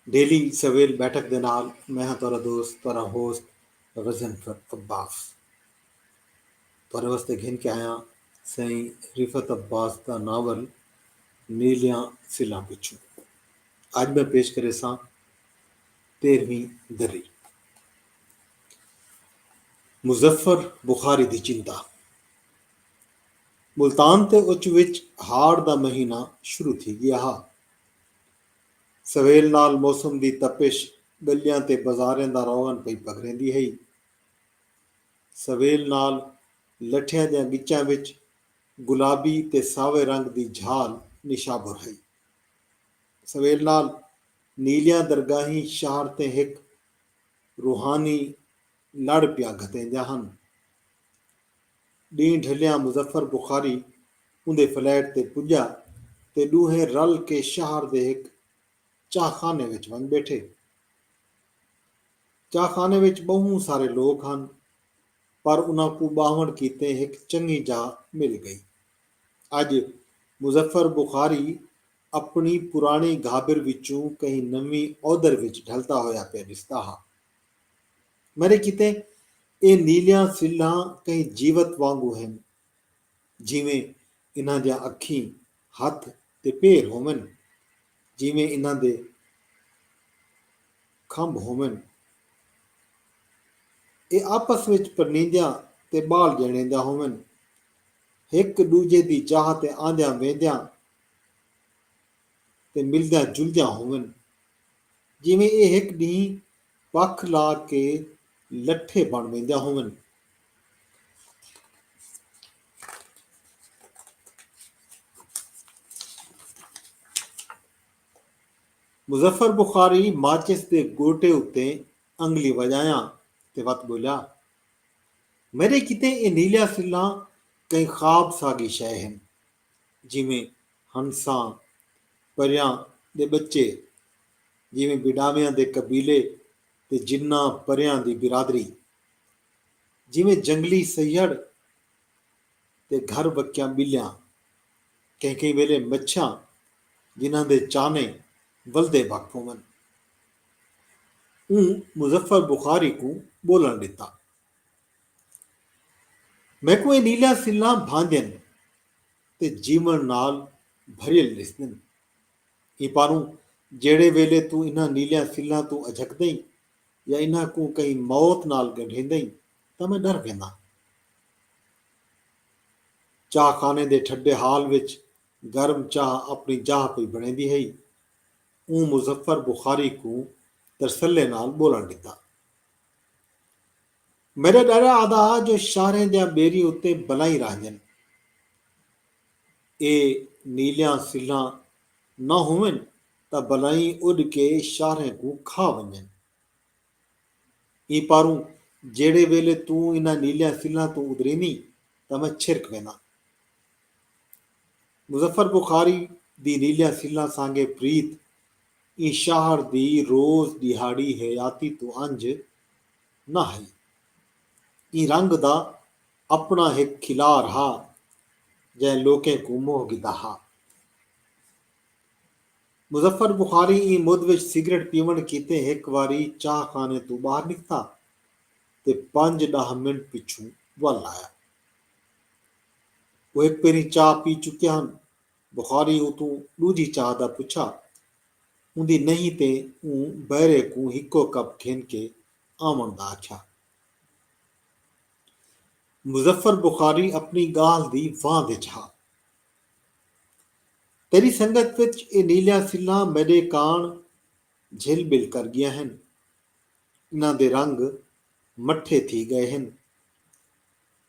Daily سویل بیٹھک دے نال میں ہاں تہاڈا دوست تہاڈا ہوسٹ غضنفر عباس تہاڈے واسطے گھن کے آیاں سئیں رفعت عباس دا ناول نیلیاں سلاں پچھوں اج میں پیش کریساں تیرہویں دری مظفر بخاری دی چنتا ملتان تے اچ وچ ہاڑ دا مہینہ شروع تھی گیا ہا سویل نال موسم دی تپش ڳلیاں تے بازاریں دا روغن پئی پگھریندی ہئی۔ سویل نال لٹھیاں دیاں ڳچاں وچ گلابی تے ساوے رنگ دی جھال نشابر ہئی۔ سویل نال نیلیاں درگاہیں شہر تیں ہک روحانی لڑ پیا گھتیندیاں ہن۔ ݙینہہ ڈھلیاں مظفر بخاری اوندے فلیٹ تے پڄا تے ݙوہیں رل کے شہر دے ہک چاہ خانے وچ ونڄ ٻیٹھے۔ چاہ خانے وچ ٻہوں سارے لوک ہن پر انہاں کوں ٻاہوݨ کیتے ہک چنڳی جاہ مل ڳئی۔ اڄ مظفر بخاری اپݨی پراݨی گھابر وچوں کہیں نویں اودھر وچ ڈھلدا ہویا پیا ݙسدا ہا۔ میݙے کیتے ایہ نیلیاں سلھاں کہیں جیوت وانگوں ہن، جیویں انہاں دیاں اکھیں، ہتھ تے پیر ہوون، جیویں انہاں دے کھمب ہوون۔ ایہ آپس وچ پرنیندیاں تے ٻال ڄݨیندیاں ہوون، ہک ݙوجھے دی چاہ تے آندیاں ویندیاں تے ملدیاں جلدیاں ہوون، جیویں ایہ ہک ݙینہہ پکھ لا کے لٹھے بݨ ویندیاں ہوون۔ مظفر بخاری ماچس دے گوٹے اتے انگلی وڄایاں تے وت ٻولیا، میݙے کیتے اے نیلیاں سلھاں کہیں خواب ساڳی شئے ہن۔ جیویں ہنساں، پریاں دے ٻچے، جیویں بھیݙاویاں دے قبیلے تے جناں پریاں دی برادری، جیویں جنگلی سہیڑ تے گھر وکیاں ٻلیاں، کہیں کہیں ویلے مچھیاں جنہاں دے چانے ولدے بھگ پوون۔ اوں مظفر بخاری کوں ٻولݨ ݙتا۔ میکوں اے نیلیاں سلھاں بھاندین تے جیون نال بھریل ڈسدن۔ ایں پاروں جیڑھے ویلے توں انہاں نیلیاں سلھاں توں اجھکدئیں یا انہاں کوں کہیں موت نال گنڈھیندئیں تاں میں ڈر وینداں۔ چاہ خانے دے ٹھڈے ہال وچ گرم چاہ اپنی جاہ پئی بنڑیندی ہئی۔ اوں مظفر بخاری کوں ترسلے نال بولن ڈتا۔ میݙا ݙاݙا آہدا ہا جو شاہریں دیاں ٻیریاں اتے بلائیں رہندن۔ اے نیلیاں سلھاں نہ ہوون تاں بلائیں اݙ کے شاہریں کوں کھا ونڄن۔ ایں پاروں جیڑھے ویلے توں انہاں نیلیاں سلھاں توں ادریندیں تاں میں چھرک وینداں۔ مظفر بخاری دی نیلیاں سلھاں سانگے پریت ایں شاہر دی روز ݙیہاڑی حیاتی توں انجھ نہ ہئی۔ ایں رنگ دا اپݨا ہک کھلار ہا جئیں لوکیں کوں موہ گھدا ہا۔ مظفر بخاری ایں مدھ وچ سگریٹ پیوݨ کیتے ہک واری چاہ خانے توں ٻاہر نکتا تے پنج ݙاہ منٹ پچھوں ول آیا۔ او ہک بھیری چاہ پی چکے ہن۔ بخاری اتوں ݙوجھی چاہ دا پچھا اوندی نہیں تے اوں بئرے کوں ہکو کپ گھن کے آوݨ دا آکھیا۔ مظفر بخاری اپݨی ڳالھ دی واہ وچ ہا۔ تیݙی سنگت وچ اے نیلیاں سلھاں میݙے کاݨ جھل ٻل کر ڳیاں ہن۔ انہاں دے رنگ مٹھے تھی ڳئے ہن۔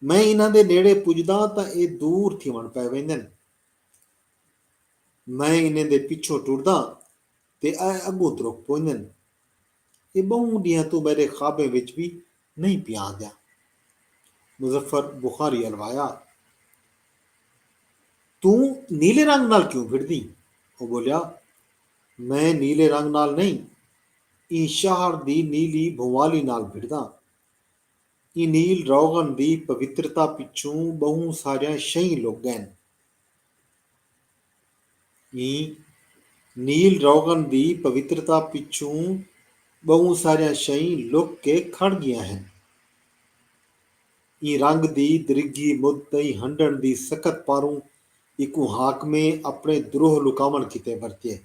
میں انہاں دے نیڑے پجداں تاں ایہ دور تھیوݨ پئے ویندن۔ میں انہیں دے پچھوں ٹرداں تے اے اڳوں ترک پوندن۔ ایہ ٻہوں ݙینہاں توں میݙے خوابیں وچ وی نئیں پیا آندیا۔ مظفر بخاری الوایا، توں نیلے رنگ نال کیوں پھردیں؟ او ٻولیا، میں نیلے رنگ نال نئیں، ایں شہر دی نیلی بھونوالی نال بھڑداں۔ اینیل روغن دی پوترتا پچھوں ٻہوں ساریاں شئیں لک ڳئن۔ ایں نیل روغن دی پوترتا پچھوں ٻہوں ساریاں شئیں لک کے کھڑ ڳیاں ہن۔ ایں رنگ دی درگھی مدھ تئیں ہنڈݨ دی سکت پاروں ایکوں حاکمیں اپݨے دروہ لکاوݨ کیتے ورتیے۔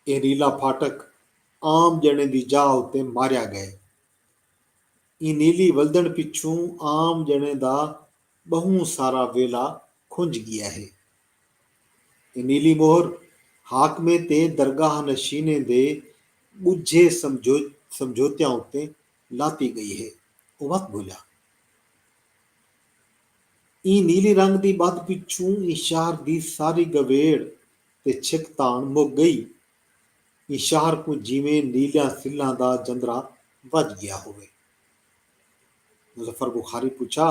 اینیلا پھاٹک۔ عام ڄݨے دی جاہ اتے ماریا ڳئے۔ ایں نیلی ولدݨ پچھوں عام ڄݨے دا ٻہوں سارا ویلا کھنج ڳیا ہے۔ اے نیلی مہر حاکمیں تے درگاہ نشینیں دے ٻجھے سمجھوتیاں اتے لاتی ڳئی ہے۔ او وت بھلیا۔ ایں نیلی رنگ دی ٻدھ پچھوں ایں شہر دی ساری گویڑ تے چھک تاݨ مک ڳئی ایں شہر کوں جیویں نیلیاں سلاں دا جندرا وج گیا ہووے۔ مظفر بخاری پچھا،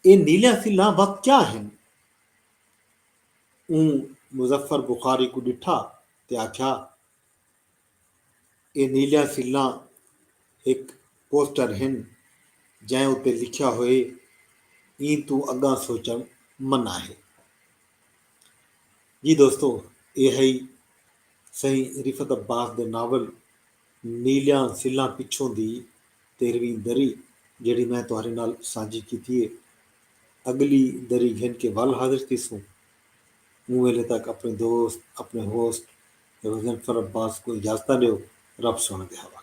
اے نیلیاں سلاں وت کیا ہن؟ اوں مظفر بخاری کوں ڈٹھا تے آکھیا، اے نیلیاں سلاں ہک پوسٹر ہن جئیں اتے لکھیا ہوئے ایں توں اگاں سوچنڑ منع ہے۔ جی دوستو اے ہئی سئیں رفعت عباس دے ناول نیلیاں سلاں پچھوں دی تیرھویں دری جیڑھی میں تہاڈے نال سانجھی کیتی ہے۔ اگلی دری گھن کے ول حاضر تھیسوں۔ اوں ویلے تک اپݨے دوست اپݨے ہوسٹ غضنفر عباس کوں اجازتاں ݙیو رب سوہݨے دے حوالے۔